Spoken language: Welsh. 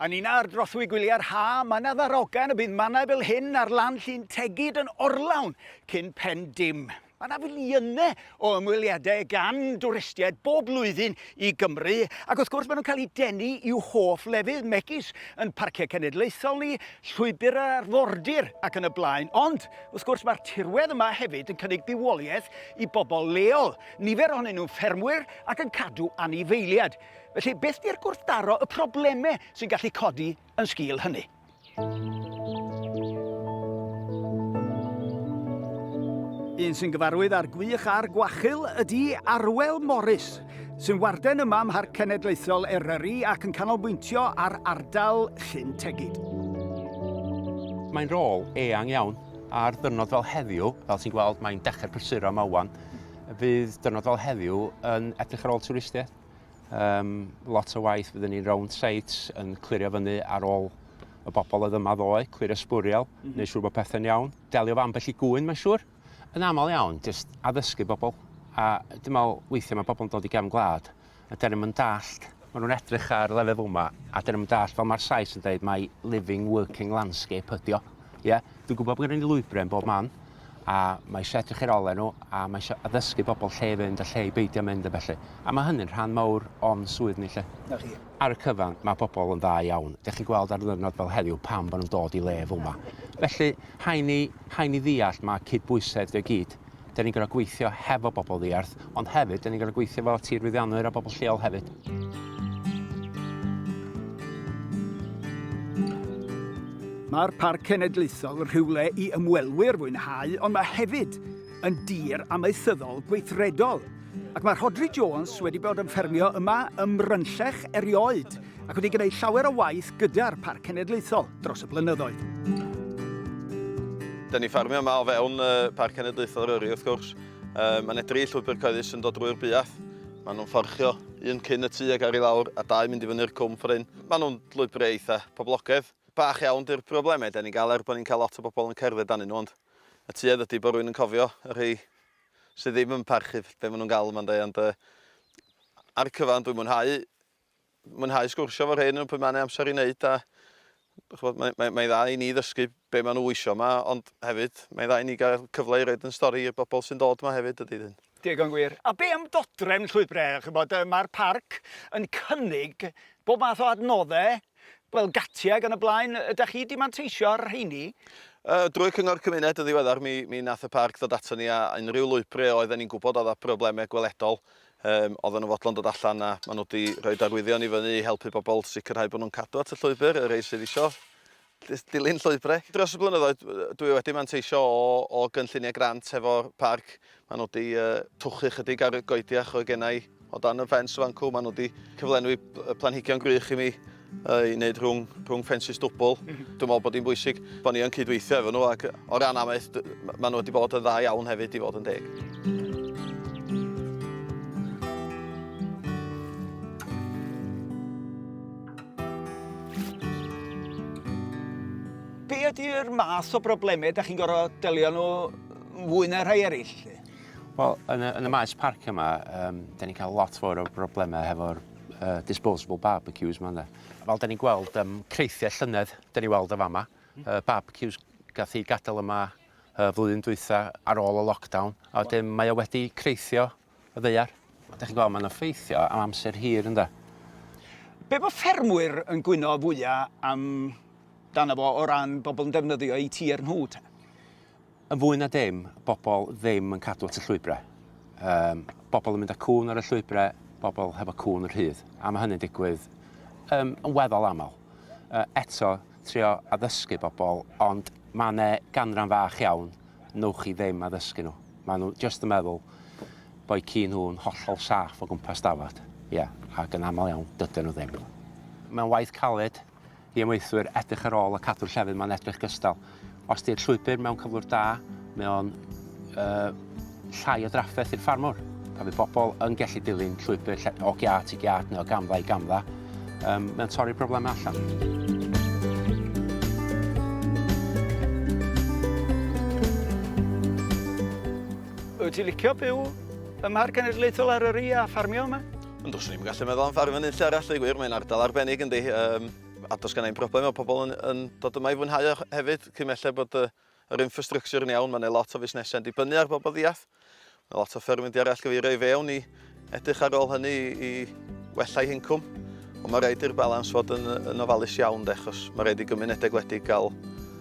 Yn un ar drothwy gwyliau'r ha, mae 'na ddarogan y bydd mannau fel hyn ar lan Llyn Tegid yn orlawn cyn pen dim. Mae 'na filiynau o ymweliadau gan dwristiaid bob blwyddyn i Gymru, ac wrth gwrs maen nhw'n cael eu denu i'w hoff lefydd, megis yn parciau cenedlaethol ni, llwybr yr arfordir ac yn y blaen. Ond, wrth gwrs, mae'r tirwedd yma hefyd yn cynnig bywoliaeth i bobl leol, nifer ohonyn nhw'n ffermwyr ac yn cadw anifeiliaid. Felly, beth di'r gwrthdaro, y problemau sy'n gallu codi yn sgil hynny? Un sy'n gyfarwydd â'r gwych a'r gwachul ydy Arwel Morris, sy'n warden yma ym Mharc Cenedlaethol Eryri ac yn canolbwyntio ar ardal Llyn Tegid. Mae'n rôl eang iawn ar ddyrnod fel heddiw, fel ti'n gweld mae'n dechrau prysuro yma wan. fydd dyrnod fel heddiw yn edrych ar ôl twristiaeth. Um, lot o waith fydden ni'n round sites yn clirio fyny ar ôl y bobl oedd yma ddoe, clirio sbwriel, mm -hmm. neu siŵr bod pethau'n iawn. Delio fan bell i gŵyn, mae'n siŵr. Yn aml iawn, jyst addysgu bobl. A dim ond weithiau mae bobl yn dod i gefn gwlad a 'dan ni'm yn dallt, ma' nhw'n edrych ar lefel yma a 'dan ni'm yn dallt fel ma'r Sais yn deud mai living working landscape ydi o. Ie? Dwi'n gwybod bod gennym ni lwybrau yn bob man a mae eisiau edrych i'r ole nhw a mae eisiau addysgu bobl lle i fynd a lle i beidio mynd a felly. A mae hynny'n rhan mawr o'n swydd ni 'lly. 'Na chi. Ar y cyfan, mae pobl yn dda iawn. Dych chi'n gweld ar ddiwrnod fel heddiw pam bod nhw'n dod i le fel yma. Felly, rhaid ni, rhaid ni ddeall mae cydbwysedd 'di o i gyd. Da ni'n gorau gweithio hefo bobl ddiarth, ond hefyd, da ni'n gorau gweithio efo tirfeddianwyr a bobl lleol hefyd. Mae'r Parc Cenedlaethol yn rhywle i ymwelwyr fwynhau, ond mae hefyd yn dir amaethyddol gweithredol. Ac mae Rhodri Jones wedi bod yn ffermio yma ym Mrynllech erioed, ac wedi gwneud llawer o waith gyda'r Parc Cenedlaethol dros y blynyddoedd. Da ni ffarmio yma o fewn y Parc Cenedlaethol Eryri wrth gwrs. Um, mae yna dri llwybr cyhoeddus yn dod drwy'r buath. Maen nhw'n fforchio un cyn y tu ag ar i lawr a dau mynd i fyny'r cwm ffordd hyn. Maen nhw'n llwybrau eitha poblogaidd. Bach iawn di'r problemau da ni'n gael er bod ni'n cael lot o bobl yn cerdded dan nhw ond y tuedd ydy bod rwy'n yn cofio y rhai sydd ddim yn parchu be maen nhw'n gael yma'n dweud ond uh, ar y cyfan dwi'n mwynhau mwynhau sgwrsio efo rhei nhw pryd mae yna amser i wneud a chwbod, mae'n mae, mae dda i ni ddysgu be maen nhw eisiau yma ond hefyd mae'n dda i ni gael cyfle i roed yn stori i'r bobl sy'n dod yma hefyd ydy hyn. Digon gwir. A be am dodrefn llwybrau? Chybod, mae'r parc yn cynnig bob math o adnoddau fel gatiau gan y blaen. Ydych chi wedi manteisio ar rheini? Uh, drwy Cyngor Cymuned yn ddiweddar, mi, mi nath y parc ddod ato ni a unrhyw lwybrau oedden ni'n gwybod oedd â problemau gweledol, Yym, oedden nhw'n fodlon dod allan a maen nhw wedi rhoi arwyddion i fyny i helpu pobl sicrhau bod nhw'n cadw at y llwybr, y rhai sydd isio dilyn llwybrau. Dros y blynyddoedd, dwi e wedi manteisio o, o gynlluniau grant hefo'r parc. Maen nhw wedi uh, twchu chydig ar y goediach oedd gennau o dan y ffens fancw. Maen nhw wedi cyflenwi planhigion gwych i mi ei wneud rhwng, rhwng ffensys dwbl. Mm -hmm. Dwi'n meddwl bod hi'n bwysig bod ni yn cydweithio efo nhw ac o ran amaeth, maen nhw wedi bod yn dda iawn hefyd i fod yn deg. Be ydy'r math o broblemau da chi'n gorau delio nhw fwy na rhai eraill? Wel, yn y, yn y maes parc yma, um, da ni'n cael lot fawr o broblemau hefo'r uh, disposable barbecues ma ynde. Fel da ni'n gweld um, creithiau llynedd, da ni'n weld y fama, uh, barbecues gath i gadael yma uh, flwyddyn dwytha ar ôl y lockdown, a wedyn mae o wedi creithio y ddeiar. Da chi'n gweld mae'n effeithio am amser hir ynde. Be mae ffermwyr yn gwyno fwyaf am dan efo o ran bobl yn defnyddio i tir nhw te? Yn fwy na dim, bobl ddim yn cadw at y llwybrau. Yym, bobl yn mynd â cŵn ar y llwybrau, bobl hefo cŵn yn rhydd, a mae hynny'n digwydd um, yn weddol aml. Uh, eto, trio addysgu bobl, ond mae yna ganran fach iawn, newch chi ddim addysgu nhw. Mae nhw jyst yn meddwl bod ci nhw'n hollol saff o gwmpas dafod. Ie, yeah, ac yn aml iawn, dydyn nhw ddim. Mae'n waith caled, I amaethwyr, edrych ar ôl a cadw'r llefydd mae'n edrych gystal. Os di'r llwybr mewn cyflwr da, mae o'n uh, llai o drafferth i'r ffarmwr. Pan fydd bobl yn gallu dilyn llwybr lle, o giat i giat neu o gamfa i gamfa, um, mae'n torri'r broblemau allan. Wyt ti'n licio byw ym Mharc Cenedlaethol Eryri a ffarmio yma? Ond os ni'n gallu meddwl am ffarm yn unlle arall, gwir, mae'n ardal arbennig yn di. Um, a dos gan ein broblem o pobl yn, yn dod yma i fwynhau e hefyd, cyn mellai bod uh, yr infrastructure yn iawn, mae'n lot o fusnesau yn dibynnu ar bobl ddiath. Mae lot o fferm yn di arall gyfeirio i fewn i edrych ar ôl hynny i, i wella'u hincwm. Ond mae rhaid i'r balans fod yn, yn ofalus iawn, de, achos mae rhaid i gymunedau gwledig gael